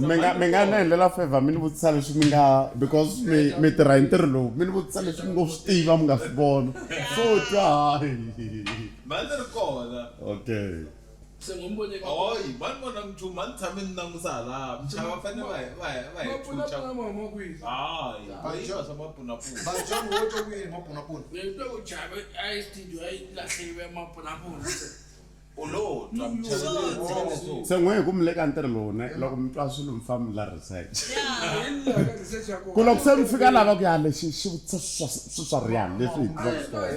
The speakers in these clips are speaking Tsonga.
mi nga mi nga ni endlela favor mi ni vutisa leswi mi nga because mi mi tirha hi ntirho lowu mi ni vutisa leswi mi ngo swi tiva mi nga swi vona swo twa okay U lo twa muchaveleri wa Yesu. Se n'we ku mi le ka ntirho lowu ne, loko mi twa swilo mi famba mi la research. Ku loko se mi fika lava ku ya lexi xi vutisa swa swi swa rihanyo leswi hi tivaka swona.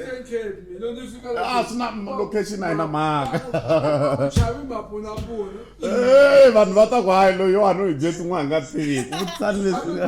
A swi na location a yi na mhaka. Hey vanhu va ta ku hayi loyiwani u hi dye tin'wana hi nga swi tiviki vutisani leswi nga.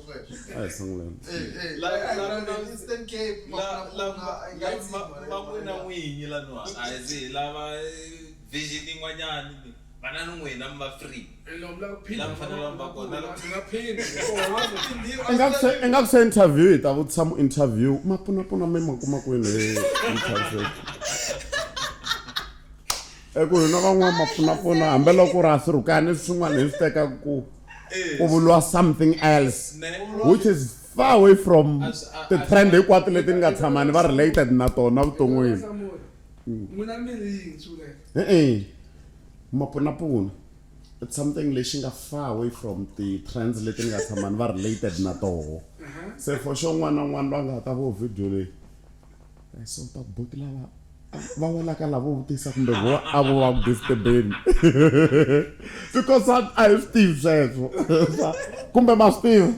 a hi sunguleni van'wina n'winyi laniwani a hi zi hi lava vision yin'wanyani ni vana ni n'wina mi va free hi la mi fanela mi va kona i nga ku se interview hi ta vutisa mu interview ma pfunapfuna mi ma kuma kwini hi interview eku hina van'wana ma pfunapfuna hambiloko ri ha swirhukani swin'wana hi swi teka ku u vuriwa something else which is far away from ti-trend hinkwato leti ni nga tshama ni va related na tona vuton'wini e-e mapunapuna it's something lexi nga far away from ti-trends leti ni nga tshama ni va related na toho se for sure un'wana na un'wana loyi a nga ta vo video leyi Eh, so ta boti lava va welaka lavo vutisa kumbe vo a vo va ku disturbeni because a a hi swi tivi sweswo kumbe ma swi tiva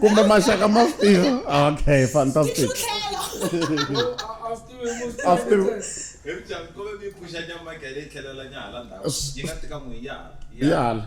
kumbe maxaka ma swi tiva okay fantastic yala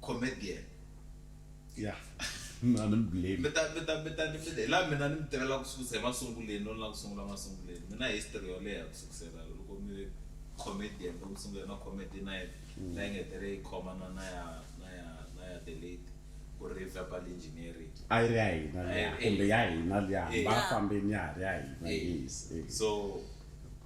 comedian ya a ni mi blame mi ta mi ta mi ta ni mi hi laha mina ni mi tivela ku sukusa emasunguleni no la ku sungula masunguleni mina history yo leha ku sukusela loko mi ve comedian loko mi sungule na comedy night mm. la yi nga tere yi khoma na na ya na ya na ya the late ku ri verbal engineering a yi ri ya hina eh, eh. kumbe ya hina liya eh. va fambeni ya ha ri ya hina yes so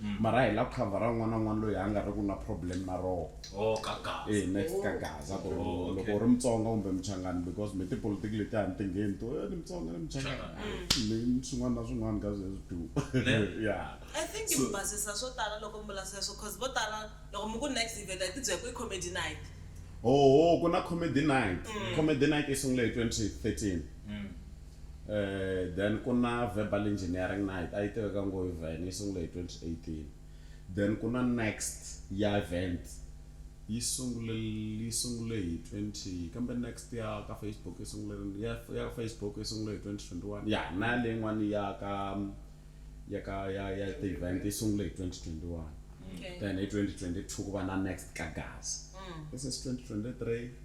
mara hi la ku khavhara un'wana na un'wana loyi a nga ri ku na problem na roho oh, eh, next ka gaza ku ri oh, loko u ri mutsonga kumbe muchangani because mi tipolitiki leti a ni ti ngheni to eh, ni mutsonga ni muchangani mm. ni swin'wana na swin'wana ka sweswi du ya i think mi basisa swo tala loko mi vula sweswo cause vo tala loko mi ku next event a yi tibyela ku i comedy night oho ku na comedy night mm. comedy night yi sungule hi 2013 mm. then ku na verbal engineering na a yi tiveka ngo hi vhen yi sungule hi 2018 then ku na next ya event yi sungule yi sungule hi 20 kambe next ya ka facebook yi sungule rini ya ya ka facebook yi sungule hi 2021 ya na ya leyin'wani ya ka ya ka ya ya ti-event yi sungule hi 2021 then hi 2022 ku va na next ka gaza this is 2023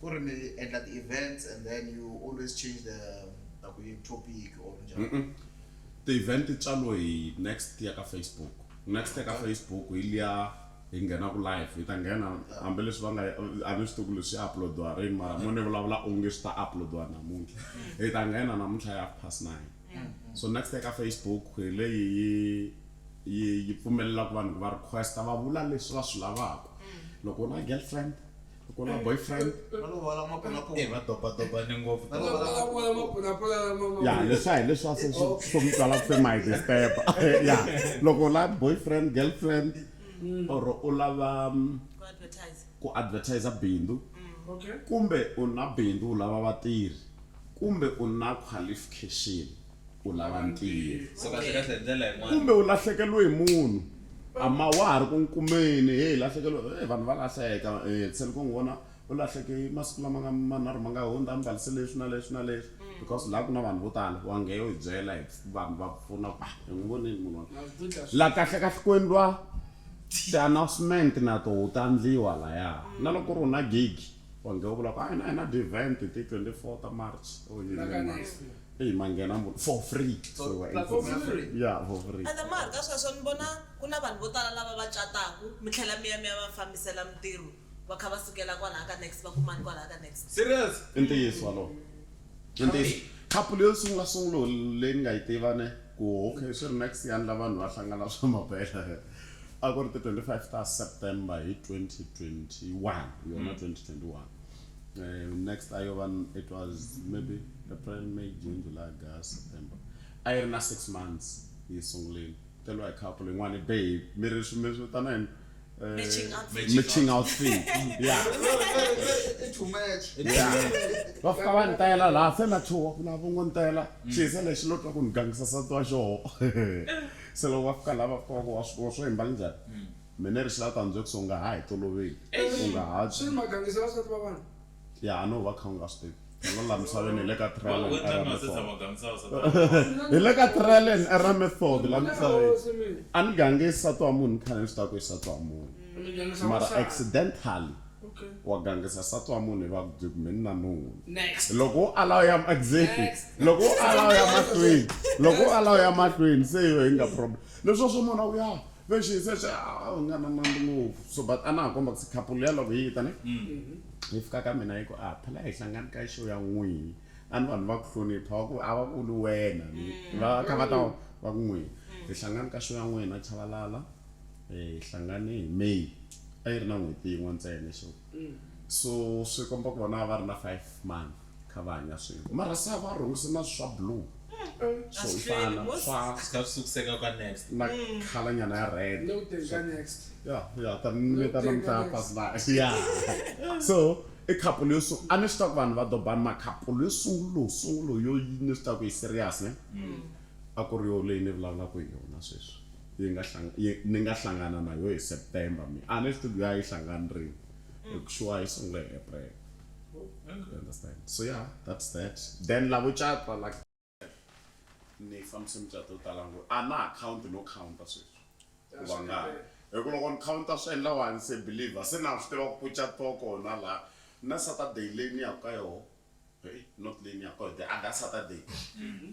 Ku ri mi endla ti events and then you always change the ta ku yi topic or njhani? Ti event ti tswalo hi next ya ka Facebook. Next ya ka Facebook hi liya hi nghenaku live hi ta nghena hambileswi va nga a ni swi tivi ku leswi swi upload-iwa rini mara mo ni vulavula onge swi ta upload-iwa namuntlha. Hi ta nghena namuntlha hi half past nine. So next ya ka Facebook hi leyi yi yi yi pfumelelaku vanhu ku va request-a va vula leswi va swi lavaku. Loko u na girlfriend. ku na boyfriend eh, va dobadobane ngopfu ya leswa hi leswa se swi hlomutala ku my disturb ya loko la boyfriend girlfriend mm. or u lava mm, ku advertise bindzu mm. kumbe u na bindzu u lava vatirhi kumbe u na qualification u lava ntirho kumbe u lahlekeriwe hi munhu ama wa ha ri ku nkumeni he hi lahlekeriwe e vanhu va lahleka um eh, tseni ku n'wi vona u lahleke masiku lama nga manharhu ma nga hundza a mbalise leswi na leswi na leswi mm. because laha ku na vanhu vo tala wa ngeyo hi byela hi vanhu va pfuna ku ah, hi n'wi voneni munhu la kahle kahle ku endliwa ti-announcement na to ta ndliwa laya mm. na loko ri u na gigi wa ngeyo vula ku a ah, hi na hi na ti-event ti-twenty four ta march or oh, yini march Eyi ma nghena mu ri for free. So For- we were platform ya interviewing. free. Yeah, for free. ende ma ha ri ka sweswo ni vona ku na vanhu vo tala lava va cataka mi tlhela mi ya mi ya va fambisela mintirho va kha va sukela kwalaha ka next va kumani kwalaha ka next Serious? I ntiyiso walowo. I ntiyiso. Couple yo sungula sungulo leyi ni nga yi tiva ne ku okay swi ri next ya ndla vanhu va hlangana swa mabela. A ku ri ti 25 ta September hi 2021 yona 2021. Uh, next ayova it was maybe april may june july august september a yi ri na six months yi sunguleni teliwa hi couple yin'wana babe mi ri mi ri vitana yini Eh, Matching outfit. matching outfit yeah It's too much. yeah va fika va ni tayela laha se na chuha ku na vongo ni tayela xisa lexi lo twa ku ni gangisa sati wa xoho se loko va fika laha va fika va ku wa swi wa swi yimbala njhani Mina ri sila tanzwe ku songa ha hi toloveli u nga ha Swi ri mhaka a nge se va swi ta tiva vanhu. Ya a no va kha u nga swi tivi. Hala la misaveni hi le ka trial and error method. Hi le ka trial and error method la misaveni. A ni gangi nsati wa munhu ni khale ni swi tiva ku i nsati wa munhu mara accidentally wa gangisa nsati wa munhu hi va ku byi ku mheni na nuna. Loko wo ala u ya exactly loko wo ala u ya mahlweni loko wo ala u ya mahlweni se hi yo hi nga problem. Leswi a swo mona uya ve xi se xa u nga na nandzu ngopfu so but a na ha komba ku se couple liya loko yi ta ne yi fika ka mina yi ku a phela hi hlangani ka show ya n'wini a ni vanhu va ku hlonipha va ku a va vuli wena va kha va ta va ku n'wina hi hlangani ka show ya n'wina Chabalala hi hlangane hi May a yi ri na n'hweti yin'we ntsena show so swi komba ku vona a va ri na five month. kha va hanya swin'we mara se a va rhungise na swa blue swo fana swa sika sukuseka ka next na khala nyana ya red no te ka next ya ya ta ni ta na mta pass na ya so i khapu leyo so a ni swi ta ku vanhu va dobani ma khapu leyo sungulo sungulo yo ni swi ta ku yi serious ne mm. a ku ri yo leyi ni vulavulaka hi yona sweswi yi nga hlanga ni nga hlangana na yo hi September mi a ni swi tivi ya yi hlangani rini mm. hi ku shuwa yi sungule hi April understand so yeah that's that then lavo cata like ni fambise mucato yo tala ngo a na account no counta sweswi ku va nga hi ku loko ni counta swi endla wani se believe se na swi tiva ku puca to kona laha na saturday leyi ni yaka ka yona not leyi ni yaka ka yona the other saturday mm-hmm.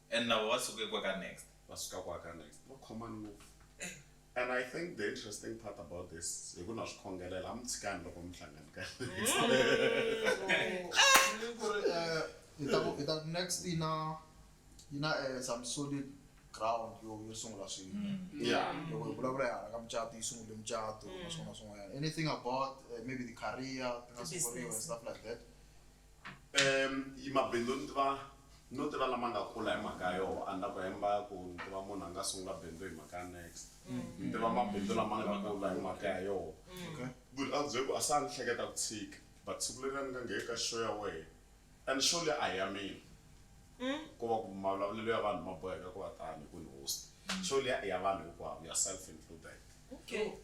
And lava va suke kwa ka next. Va suka kwa ka next va common ngopfu and I think the interesting part about this hi ku na swi khongelela a mi tshikani loko mi hlangana ka next. Ta next yi na yi na some solid ground yo yo sungula swilo yeah loko hi vulavula hi hala ka mucato yi sungule mucato na swin'wana na swin'wanyana anything about maybe the career ti nga sunguriwa and stuff like that. Um yi mabindzu ni tiva no tiva lama nga kula hi mhaka ya yoho a ni ta ku hemba ku ni tiva munhu a nga sungula bindzu hi mhaka ya next ni tiva mabindzu lama nga kula hi mhaka ya yoho but a bye ku a se a ni hleketa ku tshika but siku leri a ni nga ngheni ka show ya wehe and show leyi a hi ya mina ko va ku mavulavulelo ya vanhu ma boheka ku va tani hi ku ni host show liya i ya vanhu hinkwavo yourself included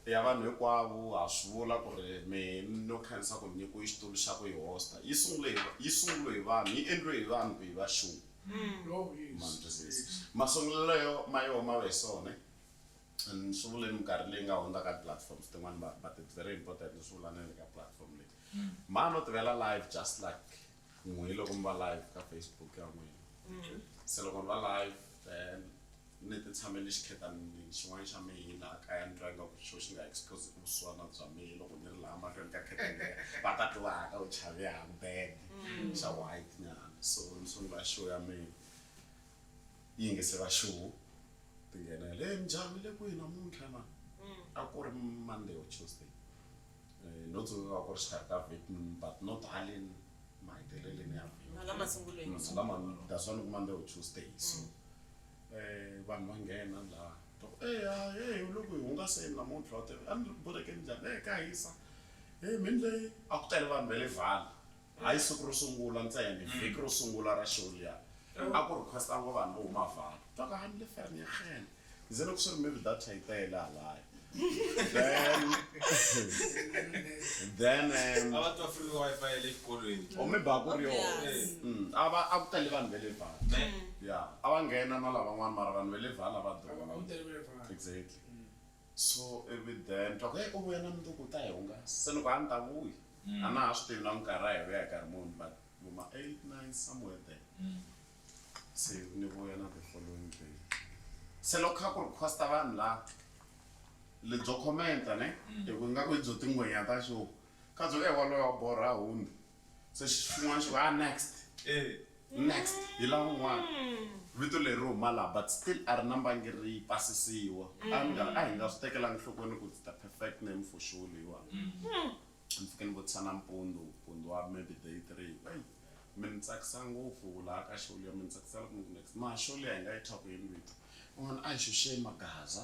ya vanhu hinkwavo ha swi vula ku ri mi no khensa ku nyikiwe xitulu xa ku yi hosta yi sungule hi yi sungule hi vanhu yi endliwe hi vanhu ku yi va show ma ni twisisa masungulelo yo ma yoho ma ve sone ni swi vule ni minkarhi leyi nga hundza ka platforms tin'wani vanhu but it's very important ni swi vula na le ka platform leyi mhani no tivela live just like n'we hi loko mi va live ka facebook ya n'wina mm-hmm. se loko ni va live then ni ti tshamele xikhetanini xin'wana xa mina a kaya ni twa ingaku xo xi nga expose ku vusiwana bya mina loko ni ri laha mahlweni ka khetani va ta tivaka u chave hambene mm-hmm. xa white nyana so ni sungula show ya mina yi yingisela show ti nghenele njhani le kwihi namuntlha na mm. a ku ri monday or tuesday Eh, no tsundzuka ku ri xikarhi ka vhiki ni- but not haleni maheteleleni ya vhiki Hala masungulweni. Mm, hala ma- that's why ni kuma ni ri tuesday so eh vanhu va nghena laha Ta ku, "Eh, ha, hey u le ku hi hungaseni namuntlha u te a ni ri ku borhekeni njhani e ka hisa e mi ni le a ku tele vanhu va le vale Hi siku ro sungula ntsena, vhiki ro sungula ra show liya, a ku request-a ngo vanhu vo huma Vaal. Twakahani le Vereeniging. Ndzi loko swi ri maybe data yi tele halaya. Then, then, um, A va twa free Wi-Fi ya le xikolweni. or maybe a ku ri yoho. Yes. Mm, a va, a ku tele vanhu va le Vaal. Ne? Yeah, a va nghena na lavan'wana mara vanhu va le Vaal a va A va, a durha. ku tele va le Vaal. Exactly. so ivi then twa ku heyi u vuya na mundzuku u ta hi hungasa se ni ku a ni ta vuya a na ha swi tivi na ku nkarhi a hi vuya hi nkarhi muni but vo ma eight nine somewhere there se ni vuya na the following day se loko kha ku request-a vanhu la lebyo comment-a ne hi ku ingaku hi byo tingwenya ta xo kha byo ku e waloye wa borha hundza se xin'wana xi ku a next next hi la un'wana vito leri huma laha but still a ri na mbangi ri pasisiwa a ni nga a hi nga swi tekelanga nhlokweni ku it's the perfect name for show leyiwani ni fike ni vutisa nampundzu mpundzu wa maybe day three ku eyi mi ni tsakisa ngopfu laha ka show liya mi ni tsakisa loko mi ku next mara show liya hi nga yi thya ku yini vito van'wana a hi xuxe magaza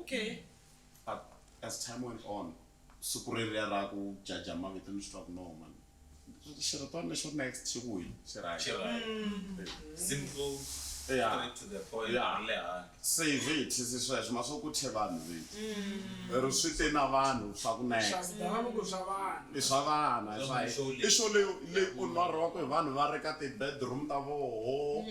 Okay. But as time went on, siku reriya ra ku jaja mavito ni swi twa ku no man xirhitwani lexo next xi ku hi xi right Xi right. Mm. Simple, Yeah. straight to the point, Yeah. ri le handle. se hi ve hi thisi sweswo ma swo ku thye vanhu vito ri swi te na vanhu swa ku next Swidavuko swa vanhu. i swa vana i swa Show leyi. i swo leyo leyi onariwaka hi vanhu va ri ka ti-bedroom ta voho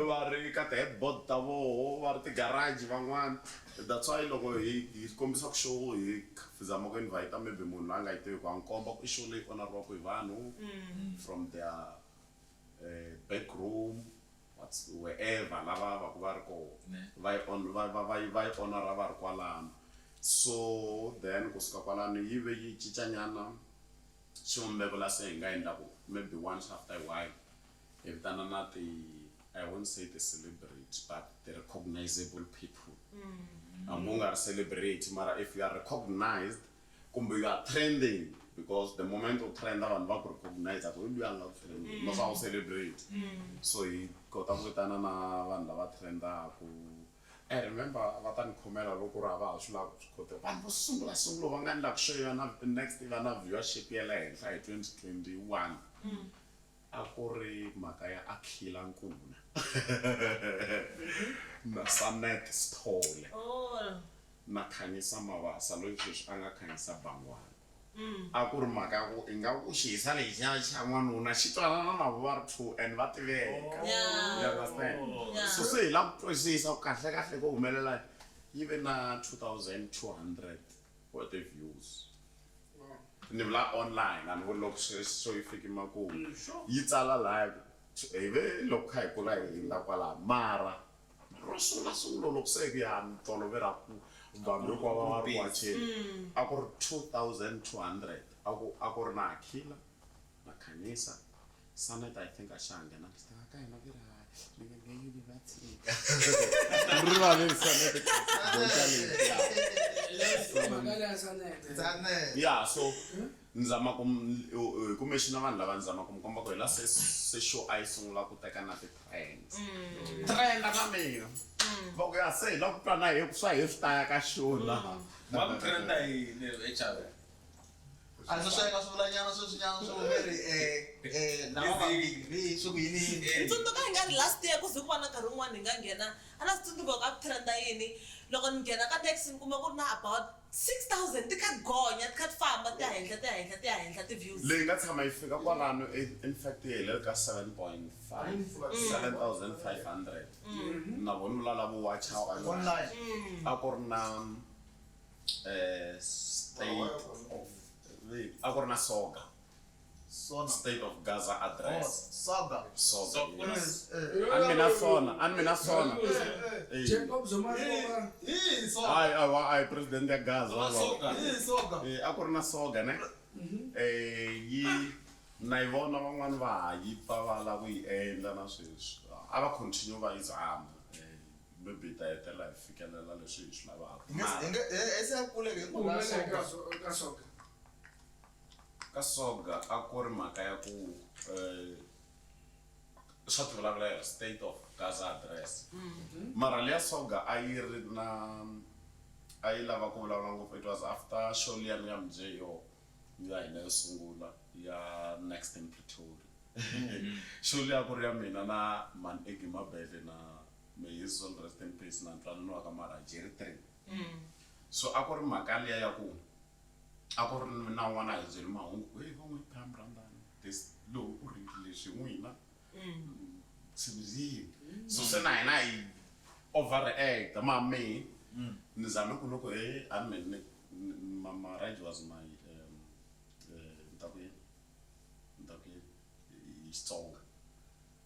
va ri ka ti headboard ta voho va ri ti garage van'wana that's why loko hi hi kombisa ku show hi zama ku invite maybe munhu la nga yi tiviku ha n'wi komba ku i show leyi onariwaku hi vanhu from their back room whats where ever la va vaku va ri koho va yi on va va va yi va yi onara va ri kwalano so then ku suka kwalano yi ve yi cinca nyana xivumbeko la se hi nga endlaku maybe once after a while hi vitana na ti i won't say the celebrity but the recognizable people hambi u nga ri celebrity mara if you are recognized kumbe you are trending because the moment u trenda vanhu va ku recognize ku luya nga ku trending no swa u celebrate so hi kota ku vitana na vanhu lava trendaku i remember va ta ni khomela loko ri hava ha swi lava ku swi kota vanhu vo sungula sungula va nga ni lava ku share na next va na viewership ya le henhla hi 2021 A ku ri mhaka ya Akhila Nkuna na Sanette Sithole na Khanyisa Mabasa loyi sweswi a nga Khanyisa Bangwana. A ku ri mhaka ya ku ingaku xihisa lexiya xa n'wanuna xi twanana na vona va ri two and va tiveka. You understand? So se hi lava ku twisisa ku kahlekahle ko humelela yini. Yi ve na 2200 wa ti views ni vula online a ni vuli loko swi so yi fiki makumu mm, yi tsala laya hi ve loko kha hi kula hi hindza kwalaha mara ro sungula sungula loko se ku ya ni tolove ra ku vanhu loko va va ri wacheni mm. a ku ri 2200 a ku a ku ri na akhila Makhanisa, Sanet I think a xa ha nghena ku xitanga ka hina ku ri hayi milenge yi vi va tshika ni rivale hi Sanet boxa leti ya so ni zama ku hi ku mexi na vanhu lava ni zama ku mi komba ku hi la se se show a yi sungula ku teka na ti-trends trenda na mina va ku ya se hi la ku twa na hi ku swa hi swi ta ya ka show na va ku trenda yini hi a ndzi sweka swivulanyana sweswinyana swi hume ri um um lava vambirhi swi ku yini yini ni tsundzuka hi nga ri last year ku ze ku va na nkarhi wun'wana hi nga nghena a na swi tsundzuka ku a ku trenda yini loko ni nghena ka taxi ni kuma ku ri na about six thousand ti kha ti gonya ti kha ti famba ti ya henhla ti ya henhla ti ya henhla ti-views leyi nga tshama yi fika kwalano e- in fact yi helele ka 7.5 na vona vulala vuwacha online a ku ri na eh, state of Wait. a ku ri na soga Sona. state of gaza Oh, address Saga. soga So- yes. Eh, ani mina sona ani mina sona eh, eh. Eh. Jacob Zuma Hii- Riboba. hii Saga. Ai, ai, wa- ai, president ya gaza wa- Soga. Hii Saga. Eh, a ku ri na soga ne Eh, yi na yi vona van'wani va ha yi pfa va lava ku yi endla na sweswi a va continue va yi zama Eh, Maybe hi ta hetelela hi fikelela leswi hi swi lavaka. Ku humelele eka eka Soga? Ka Soga a ku ri mhaka ya ku swa tivulavula hi ri state of Gaza address. Mara leya Soga a yi ri na a yi lava ku vulavula ngopfu it was after show liyani ya Mj yo ya hina yo sungula ya Next in Pretoria. Show liya a ku ri ya mina na Mhani Eggie Mabele na may his soul rest in peace na ntwanano wa ka mara jerry three mm. so a ku ri mhaka liya ya ku a ku ri na n'wana a hi byeli mahungu ku va n'wi pam randani this lowu u ri leswi n'wina mm. sibizini mm. so se na hina hi overact ma me ni zame ku loko e a ni mene marriage was my um, eh, ni ta ku yini ni ta ku yini hi xitsonga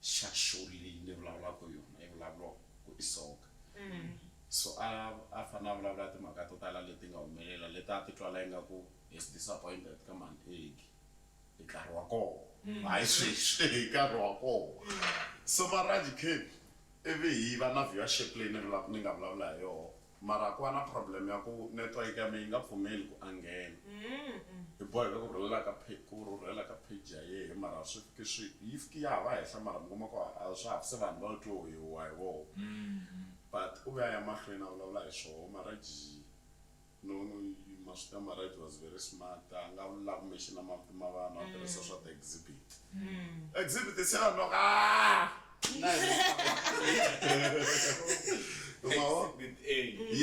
xa shori leyi ni vulavulaka yona yi vulavuriwa ku i soka mm. so a a fanele a vulavula timhaka to tala leti nga humelela leti a ti twala ingaku is disappointed ka mani egi hi nkarhi wa kona mm. hayi sweswi hi nkarhi wa kona mm. so maraji cape ivi hi va na viewership leyi ni nga vulavula hi yona Mara ku va na problem ya ku network ya me yi nga pfumeli ku a nghena. Hi boheka ku rhurhela ka phe, ku rhurhela ka page ya yehe mara swi fiki swi, yi fiki ya ha va henhla mara mi kuma ku a a swa ha se vanhu va twe hi huwa hi voho. But u ve a ya mahlweni a vulavula hi swoho Marriage no no yi ma swi tiva Marriage was very smart a nga vula ku mention-a mavito ma vanhu a tirhisa swa ti exhibit. Exhibit se ya noka aah!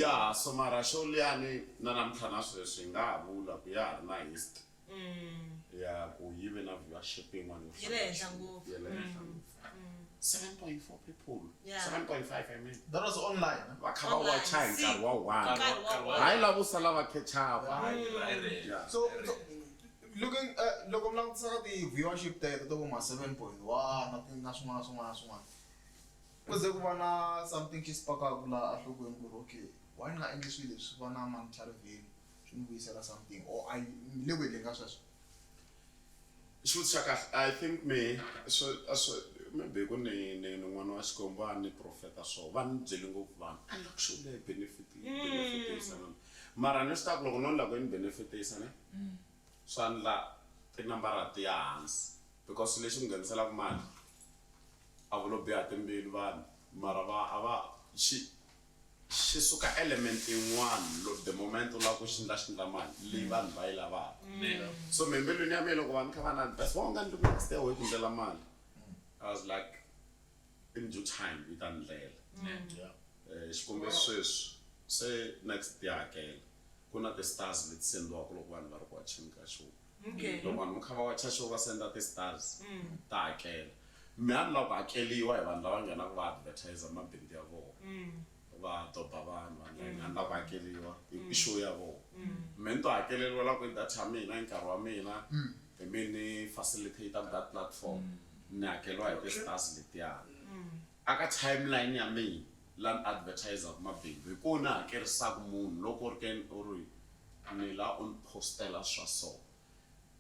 ya so mara xo liyani na namuntlha na sweswi hi nga ha vula ku ya ha ri na history mm. ya ku yi ve na viewership yin'wana yo ya le henhla ngopfu ya le henhla mm. ngopfu 7.4 people yeah. 7.5 i mean that was online va kha va wacha hi nkarhi wa one hayi lavo sala va khechapa so, so Looking at, Loko mi langutisa ka ti viewership teto to vo ma 7.1 na swin'wana na swin'wana na swin'wana, ku ze ku va na something xi spark-aka laha enhlokweni ku ri okay why ni nga endli swilo leswi swi va na monetary value swi ni vuyisela something or I ni le ku endleni ka sweswo. Xivutiso xa kahle I think mehe swi swi maybe ku ni ni ni n'wana wa Xikwembu a ni profeta swo va ni byele ngopfu vanhu a ni la ku xewula hi benefit benefit . Mara ni swi tiva ku loko no ni lava ku ni benefit-isa ne swa ndla tinambara ti ya hansi because swilo leswi ngheniselaka mali a vo lo biha timbilu vanhu mara va a va xi xi suka element yin'wana lo the moment u lava ku xi ndla xi ndla mali leyi vanhu va yi lavaka so me embilwini ya mina loko vanhu kha va na ni va nga ni ri na ku site away ku ndlela mali I was like. in due time yi ta ndlela yeah. eh, xikombe sweswi se next ti hakela ku na ti-stars leti sendiwaka loko vanhu va ri ku wacheni ka show Okay. loko vanhu va kha va wacha show va senda ti-stars Mm. ta hakela mi a ni lava ku hakeliwa hi vanhu lava nghenaka va advertise mabindzu ya vona Mm. va doba vanhu vanhu a ni lava ku hakeliwa i i show ya vona Mm. me ni to hakeleriwa la ku i data ya mina i nkarhi wa mina Hi mi ni facilitator that platform ni hakeriwa hi ti-stars letiyani a ka timeline ya mina la ni advertiser-ku mabindzu hi kona ni hakerisaka munhu loko u ri ke u ri ni la u ni post-ela swa so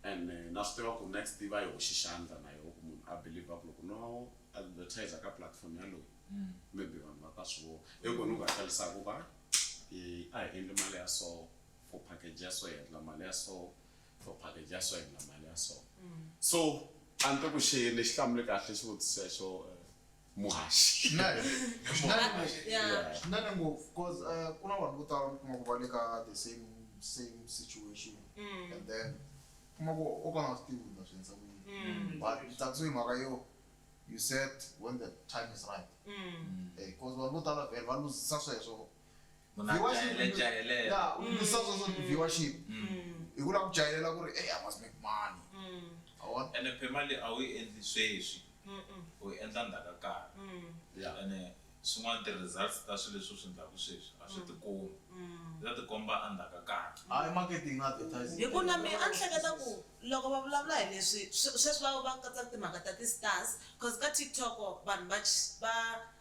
and eh, na swi tiva ku next yi va yi hoxi xandla na yoho ku munhu a believer ku loko no advertiser ka platform yaloyi maybe vanhu va ta swi vona hi kona ni ku hakerisaka ku va eh, a hi endli mali ya so for package ya so hi endla mali ya so for package ya so hi na mali ya so mm. so a ni to ku xeyini lexi hlamule kahle xivutiso xo eh, muhaxi swinene ngopfu bcause eh, ku na vanhu vo tala mi kuma ku va le ka the same same situation mm. and then kuma ku o ka nga swi tivi na swi endza ku yini mm. but tatso hi mhaka yo you said when the time is right bcause vanhu vo tala vhele va luzisa sweswo Munhu a Viewership, jahele, mi- jahelela. ya u lwisa swo swo viewership hi ku lava ku jahelela ku ri hey i must make money ma vona ene phema leyi a wu yi endli sweswi u yi endla ndzhaku ka nkarhi Yeah. ene swin'wana ti-results ta swilo leswi u swi endlaku sweswi a swi tikombi swi ta tikomba a ndzhaku ka nkarhi a i marketing na advertising hi ku na mina a ni hleketa ku loko va vulavula hi leswi swe- sweswi va va katsa timhaka ta ti-stars cause ka tiktok vanhu va ch- va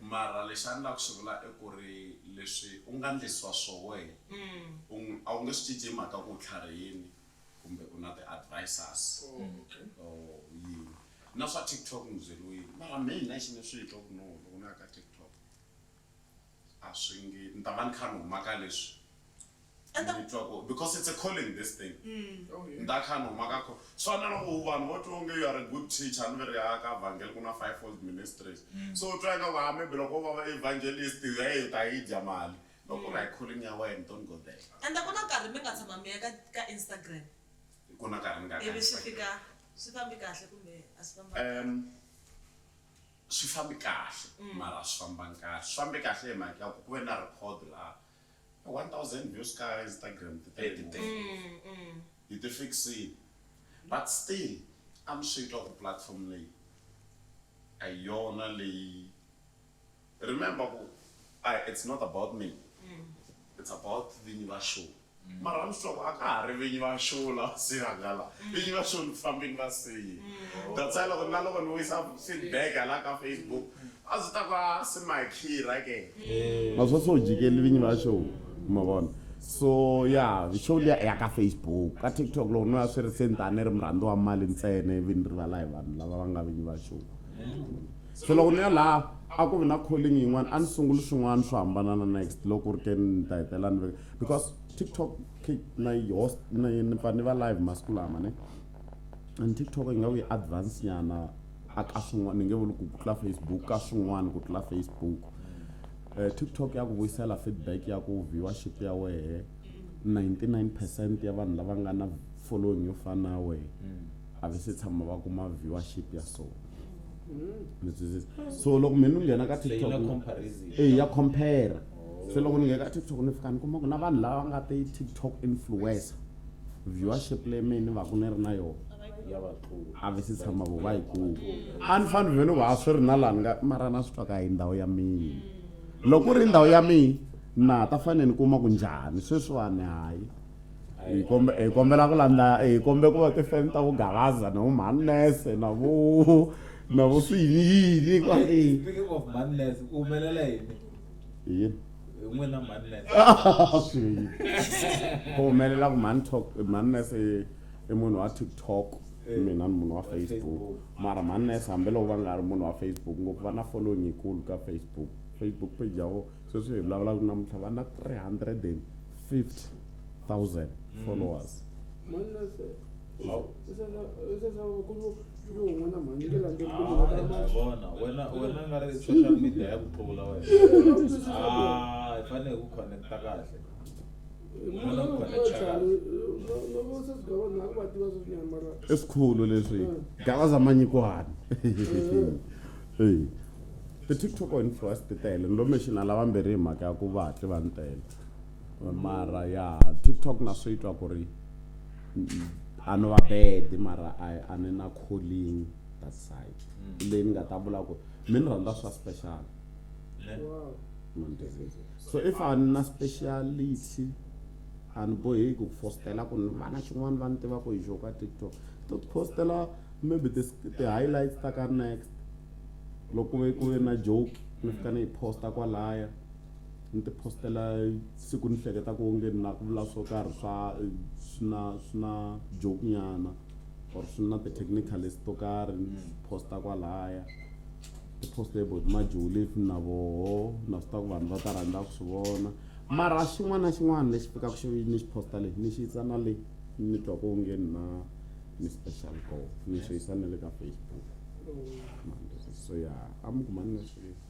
Mara lexi a ni lava ku xi vula i ku ri leswi u nga ndlisiwa swohe u a wu nge swi cinci hi mhaka ku u tlharihini kumbe u na ti-advisers or yini. Na swa TikTok ni byeriwile mara mehe nexe ni swi twa ku no loko na ya ka TikTok a swi nge ni ta va ni kha ni huma ka leswi ende twa ko because it's a calling this thing mm. oh, yeah. ndakhanhu maka kho swana loko vanhu vo twa onge you are a good teacher ni veri ya ka vhangeli ku na five fold ministries mm. so u twa nga ku hambi loko u va evangelist u ya ta yi dya mali loko u ri hi calling ya wena don't go there ende ku na nkarhi mi nga tshama mi ya ka ka instagram ku na nkarhi ni nga ivi swi fika swi fambi kahle kumbe a swi famba um swi fambi kahle mm. mara swi fambanga kahle swi fambi kahle hi mhaka ya ku ku ve na record laha 1000 views ka Instagram ti tele ngopfu. Mm, mm. Hi ti fixile. But still I'm sweet of platform leyi a hi yona leyi remember ku I, it's not about me mm. it's about vinyi va show mm. mara ni sure a ka ha ri vinyi va show la si hangala mm. vinyi va show ni ku fambeni va siyi mm. that's why loko na loko ni wisa feedback hala ka Facebook A zwi ta va swi makhirha ke? Ma swa so jikeli vinyi va show ma vona. So ya show liya ya ka Facebook ka TikTok loko no ya swi ri se ni ta ni ri murhandzi wa mali ntsena ivi ni rivala hi vanhu lava va nga vinyi va show. Se loko ni ya la a ku vi na calling yin'wana a ni sunguli swin'wana swo hambana na next loko ku ri ke ni ta hetelela ni veka because TikTok na yi host ni pfa ni va live masiku lama ne. and tiktok yi nga ku yi advance nyana a ka swin'wana ni nge vuli ku tlula facebook ka swin'wana ku tlula facebook um tiktok ya ku vuyisela feedback ya ku viewership ya wehe 99 percent ya vanhu lava nga na following yo fana na wehe a va se tshama va kuma viewership ya so so loko mina ni nghena ka tiktok e ya compare se loko ni nghena ka tiktok ni fika ni kuma ku na vanhu lava nga ti tiktok influencer viewership leyi mehe ni vaku ni ri na yona a vi si tshama vo va yi kuma a ni fani vhelo va swi ri na lani nga mara na swi twaka hi ndhawu ya mina loko ku ri ndhawu ya mina na ha ta fanele ni kuma ku njhani sweswiwani hayi hi kombe hi kombela ku landza hi kombe ku va tifeni ta vugalaza na vumanese na vu na vu swiyini yini kwale Speaking of Manless, u humelela yini? yini n'wina swi ku humelela ku mhani talk mhani nese i munhu wa tiktok eh. mina ni munhu wa facebook mara mhani nese hambiloko va nga ri munhu wa facebook ngopfu va na following yikulu ka facebook facebook page ya vo sweswi hi vulavulaka namuntlha va na 350 thousand mm. followers mm. vona wena wena nga ri social media ya ku tlula wena a hi fanele hi ku connecta kahle esikhulu leswi galaza manyikwani hey ti-tiktok influence ti tele ni lo mexina lavambirhi hi mhaka ya ku va hatli va ni tele mara ya tiktok na swi twa ku ri a ni va bedi mara a a ni na calling that side mm. leyi ni nga ta vula ku mi ni rhandza swa special so if a ni na speciality a ni boheki ku fostela ku ni vana xin'wana va ni tiva ku hi xo ka tiktok to postela maybe ti-highlights ta ka next loko ku ve ku ve na joke ni fika ni yi posta kwalaya ni ti postela siku ni hleketaka onge ni lava ku vula swo karhi swa swi na swi na joke nyana or swi na ti-technicalist to karhi ni posta kwalaya ti-post about majuli if na voho na swi tiva ku vanhu va ta rhandza ku swi vona mara xin'wana na xin'wana lexi fikaka xi ni xi posta lexi ni xi yisa na le ni twa ku onge ni na ni special go ni swi yisa na le ka facebook so ya a mi kumani na swilo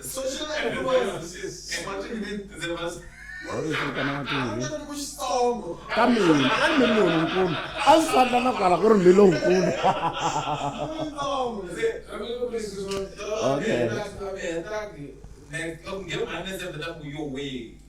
Social influence. Imagine me, the must. ka mina a ni mi lonkulu a ndzi fana na kwala ku ri mi lonkulu okay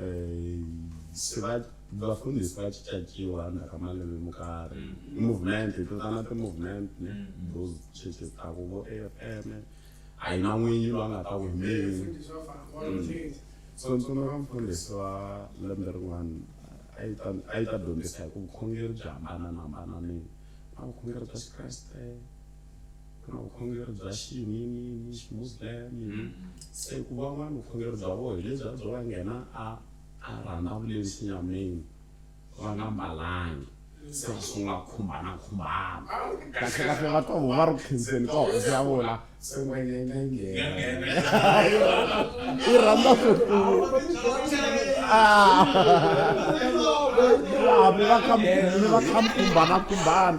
eh, se va vafundhisi va cincaciwa na ka malembe mo karhi mm. movement hi totana ti-movement ne mm. those churches ta ku vo a f m a yi na n'winyi loyi a nga ta wemeli mm. so ntsona ka mfundhisi wa lembe rin'wana a yi ta dyondzisa hi ku vukhongeri byi hambananambananini a vukhongeri bya xikreste kana u khongelo bya xiyiniyini ximuslim mm. se ku van'wana vukhongelo bya vona hi lebyi a byo va nghena a a rhanda vuleni xinyameni va nga mbalangi se va sungula ku khumbana khumbana kahlekahle va twa vona va ri khenseni ka hosi ya vona se va nyenga nghena i rhanda ah. ah, mi va kha mi va kha mi khumbana khumbana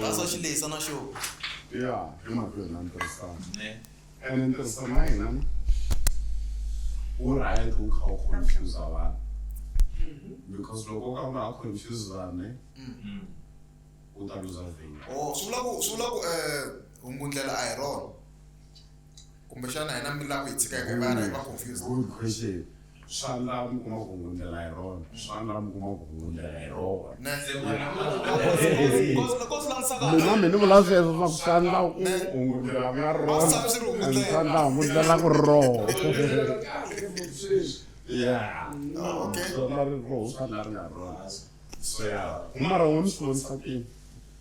va swa xi lehisa na xo ya i mhaka yona ni tirhisana ene ni tirhisana na yena wu right wu kha wu confuse vanhu because loko u ka u nga ha confuse vanhu u ta luza vhengele swi vula ku swi vula ku um hungundlela a hi rona kumbexana hina mi lava ku hi tshika hi kangana hi va confused good question swa lava mi kuma ku hundlela hi rona swa lava mi kuma ku hundlela hi rona Ne? mina mi ni vula sweswo swa ku swa ndla ku hungundlela ku ya rona Swi swi ri and hungundlela. swa ndla hungundlela ku rona ya okay swa ndla ri roho swa ndla ri nga rona so ya mara wo mi swi vonisa kini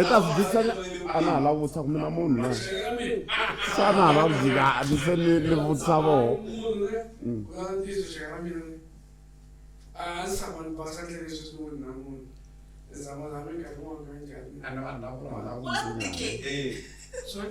i ta swi dyisa a na ha la vutisa ku mina munhu na sa na ha la vutisa a ni se ni ni vutisa voho Sorry?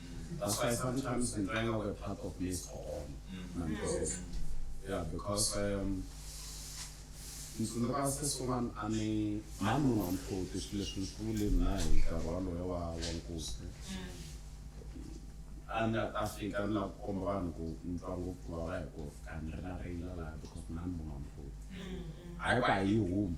That's why sometimes we bring our part of maize for all. Mm. Because, yeah, because um, ntsundzuka sesi un'wana a ni mhani munhu wa mhloti swilo leswi ni swi vule na hi nkarhi waloyo wa wa nkuzi a ni ta fika ni la ku komba vanhu ku ni twa ngopfu vava hi ku ka ni ri na reyila laha because mhani munhu wa mhloti hayi ku a yi humi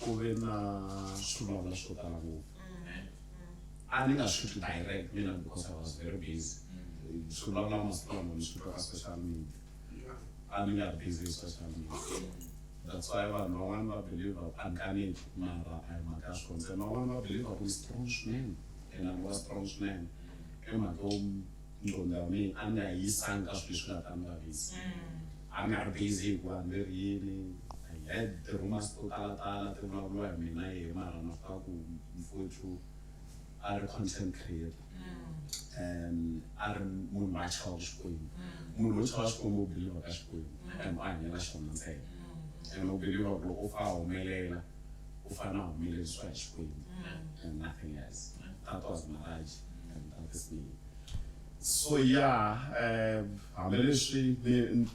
ku ve na swivulavula swo tala ngopfu a ni nga swi twi direct mina because i was very busy swi vulavula masiku lama ni swi twa ka social media a ni nga ri busy hi social media that's why vanhu van'wani va believe a ni kaneti mara a hi mhaka ya swona se van'wani va believe ku ni strong swinene and a ni wa strong swinene i mhaka yo nqondo ya mina a ni nga yi yisanga ka swilo leswi nga ta ni vavisa a ni nga ri busy hi ku vanhu leri yini i had the rumors to talatala ti vulavuriwa hi mina yehe mara na fika ku mfuthu a ri content creator um a ri munhu wa chava xikwembu munhu wo chava xikwembu u biliva ka xikwembu and u hanyela xona ntsena and u biliva ku loko u fa humelela u fana humelelisiwa hi xikwembu and nothing else that was maraji so ya um hambileswi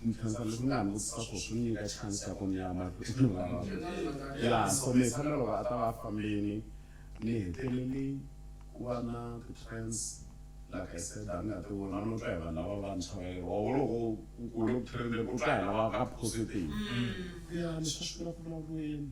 ni khensa leswi ni nga ni vutisa swo swi nyika chance ya ku ni ya mahlweni ya so ni fanele loko a ta va fambini ni heteleli ku va na ti-trends like i said a ni nga ti vona no twa hi vanhu lava vantshwa va lero loko ku kule ku trende ku twa hi lava ka positive ya leswi a swi vula ku vulavuriweni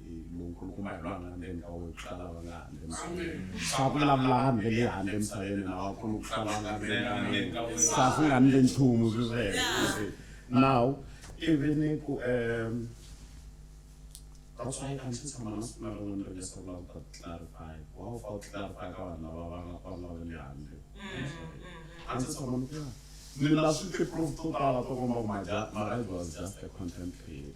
lowu nkulukumba hi lwanga ndzeni ka wena ku tlula lava nga handle misaveni swa ku vulavula hambi leyi handle misaveni na wakulu ku tlula lava nga ndzeni ka wena sa swi nga ndle nchumu swi sweswo now even ku um that's why I'm since I'm not not going to just about to clarify wow for clarify ka vanhu lava va nga kona va le handle I'm since I'm not yeah ni na swi proof to tala to komba ku my my life was just a content creator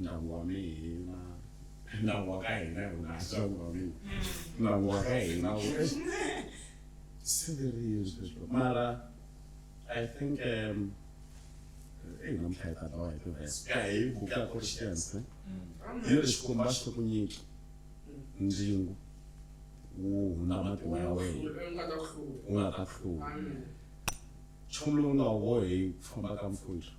nawu wa mina nawu wa ka hina hi unasa wu wa mina nawu wa ka hina wu se very useless mara i think um eyi namuntlha hi ta dlawa hi tivhesa ka hi buka ku ri xiense hi ri xikomba xi to ku nyiki ndzingu wu hundza matimu ya wena u nga ta hlula nchumu lowu nga wu bohi ku famba ka mpfundla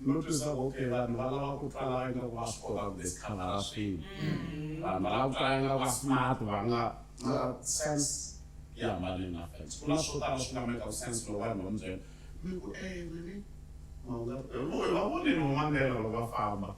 Ndo twisisa ku okay vanhu va lava ku twala ingaku va swi kota ku discovera swilo. Vanhu va lava ku twala ingaku va smart va nga mara sense yi hambanile na fence. Ku na swo tala swi nga mekaku sense loko vanhu va mi byela mi ku eeh mehe a wu nga ri kona. Hi va vonile vo Mandela loko va famba.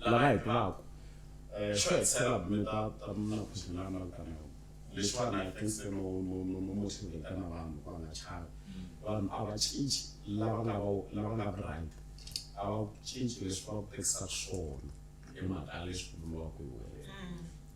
lava hi tivaka eh, xo hetisela bume ta ta na khuzimela na vitana yo leswiwani i think se no no no no motivate na vanhu va nga chava vanhu a va cinci lava nga va lava nga brand a va cinci leswi va ku tekisaka swona hi mhaka leswi vuriwaka hi wena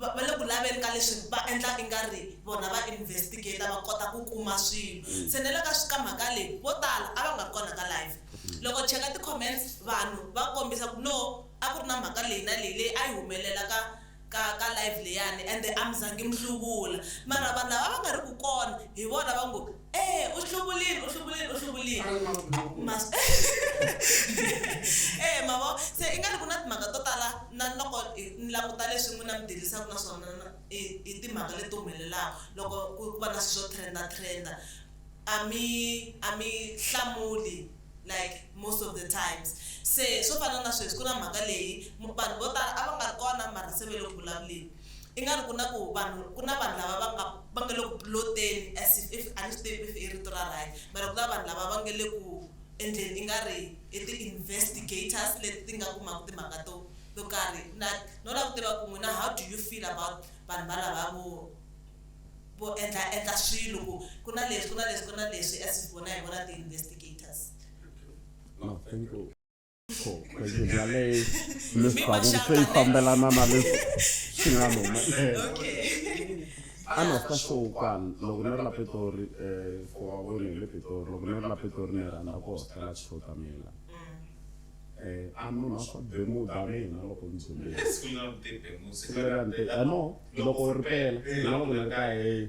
va va le ku laveni ka leswi va endla i nga ri vona va investigator va kota ku kuma swilo mm. se ne le ka ka mhaka leyi vo tala a va nga ri kona ka live mm. loko cheka ti-comments vanhu va kombisa ku no a ku ri na mhaka leyi na leyi leyi a yi humelela ka ka ka live leyani ende a mi zangi mi hluvula mara vanhu lava va nga ri ku kona hi vona va ngo Eh, u hluvulini, u hluvulini, u hluvulini. A ni ma swi voni. Ma swi- Eh, ma vo, se i nga ri ku na timhaka to tala na loko hi ni languta leswi n'wina mi dirisaku na swona na i i timhaka leti humelelaku loko ku ku va na swi swo trenda trenda a mi a mi hlamuli like most of the times se swo fana na sweswi ku na mhaka leyi mu vanhu vo tala a va nga ri kona mara se ve le ku vulavuleni I nga ri ku na ku vanhu ku na vanhu lava va nga va nga le ku plot-eni as if if a ni swi tivi if i rito ra right mara ku na vanhu lava va nga le ku endleni i nga ri i ti-investigators leti ti nga kumaka timhaka to to karhi na no lava ku tiva ku n'wina how do you feel about vanhu va lava vo vo endla endla swilo ku ku na leswi ku na leswi ku na leswi as if vona hi vona ti-investigators No, thank you. khwezi bya le leswaku se yi fambelana na leswi swi nga luma ana swi kahle ukwana loko ni ri la pitori um for wa vona hi le pitori loko ni ri la pitori ni rhandza ku hostela xihota mina eh a munhu a swa bemuda mina loko ni dzumile no loko u ri pela na loko ni ri ka heyi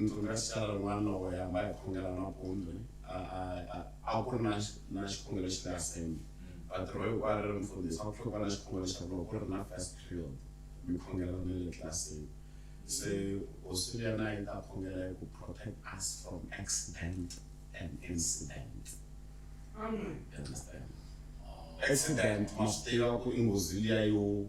ndzi nga xitala n'wana wo yamba hi khongela nampundzu a ku ri na na xikhongelo xi nga sembi vatirho hinkwaro ri mfundhisi a ku tlhe ku va na xikhongelo xa loko ku ri na first period mi khongela na le tlilasini se hosi ya na yi ta khongela hi ku protect us from accident and incident understand accident ma swi tiva ku i nghozi liya yo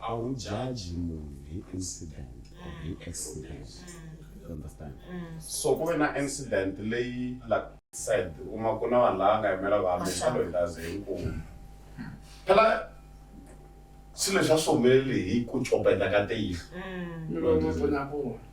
a wu jaji munhu hi incident or hi accident you understand so ku ve na incident leyi like said u ma ku na vanhu lava nga yimela vanhu hi xalo hi laze hinkulu phela xilo xa swi humeleli hi ku copeta ka tihlo mm.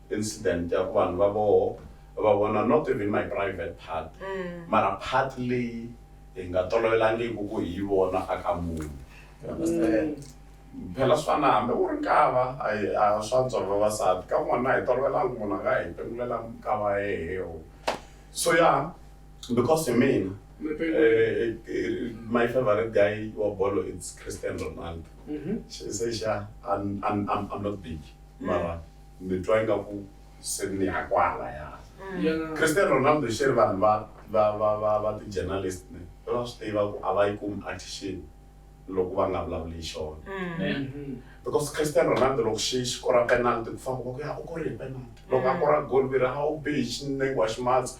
incident ya ku vanhu va voho va vona not even my private part mm. mara part leyi hi nga tolovelangiku ku hi yi vona a ka munhu mm. phela swi fana hambi u ri nkava a swa ntsolo vavasati ka n'wana hi tolovelangi munhu a nga hi pengulela nkava yehewo so ya because hi mina eh, eh, my favorite guy wa bolo it's christian ronaldo mm-hmm. she say sha i'm not big mara mm. mi twa ingaku se mi ya kwalaya mm. cristian ronaldo xi ri vanhu va va va va va ti-journalist ne va swi tiva ku a va yi kumi attention loko va nga vulavuli hi xona mm. mm-hmm. because cristian ronaldo loko xi xi kora penalty ku famba ku ya u kore hi penalty loko a mm. kora golvira a wu bihi xinengo wa ximatsi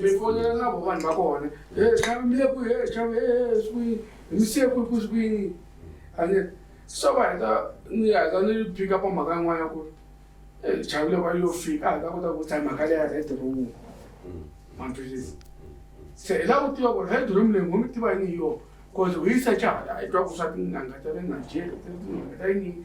mifonela na vo vanhu va kona xavi mi le ku he xavi e swi hi mi siye kwi ku swi kwini a ni so va heta ni heta ni phika pa mhaka yin'wana ya ku ri xavi le va yo fika a hi ta kota ku tsaya mhaka leya red room maphilisi se hi la ku tiva ku ri red room leyi ngo mi tiva yini hi yona cause ho yi secha hala hi twa ku swa tinanga ta le nigeria tinanga ta yini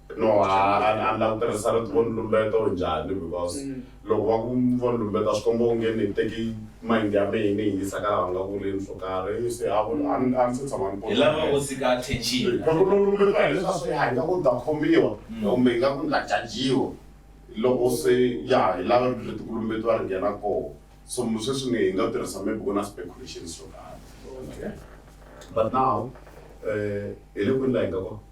no a ni lava ku tirhisa rito vo ni lumbeto njhani because mm. loko va ku vo ni lumbeta swi komba onge ni teki mind ya mehe ni yingisa ka lava nga ku ri nso karhi se a ni se tshama ni lava u tshika attention loko no lumbeta hi leswa swi hayi nga ku ta khomiwa mm. kumbe nga ku nga jajiwa loko se ya hi lava rito leti ku lumbetiwa ri nghena koho so sweswi ni hi nga tirhisa maybe ku na speculations swo karhi but now um hi le kwini la hi nga kona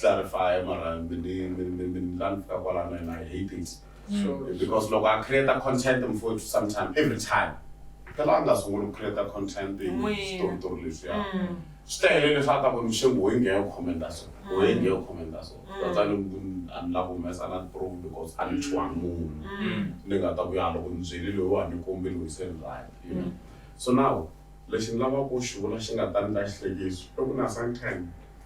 clarify mara mi ni mi mi mi ni la ni fika kwalano and I hate it Sure. because loko a create content mfowethu sometime every time phela a nga sunguli ku create content hi N'wina. switoritori leswiya Mm. swi ta helele swa ta ku ni xingu hoyi ngeyo commenta so hoyi ngeyo commenta so that's why ni ku a ni la ku humesa na proof because a ni tshwangi munhu Mm. ni nga ta ku ya loko ni byeli loyi wa ni kombi loyi se ni right you know so now lexi ni lavaka ku xi vula xi nga ta ni ta xihlekiso i ku na sometime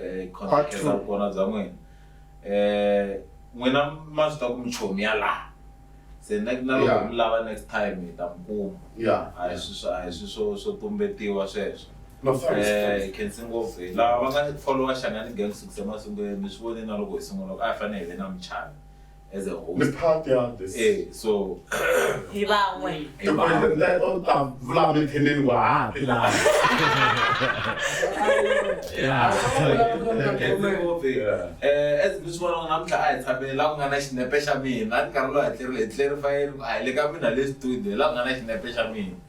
eh, khonsekela vukona bya n'wina um n'wina ma swi ta ku michomi ya laha se na loko mi lava next time hi ta mi kuma a hi swi a hi swi swo swo tumbetiwa sweswo eh, khensi ngopfu hi lava va nga followa xangani gang sukise masungulweni mi swi vone na loko hi sungula a hi fanele hi ve na michana as a host. Ni part ya this. Eh, so hi van'we. Hi van'we. Na to ta vula mi theleni wa ha ti la. Yeah. Eh, as mi swi vona namuntlha a hi tshamile la ku nga na xinepe xa mina, a ni karhi lo hatlerile hi tlerifa yini, a hi le ka mina le studio, la ku nga na xinepe xa mina.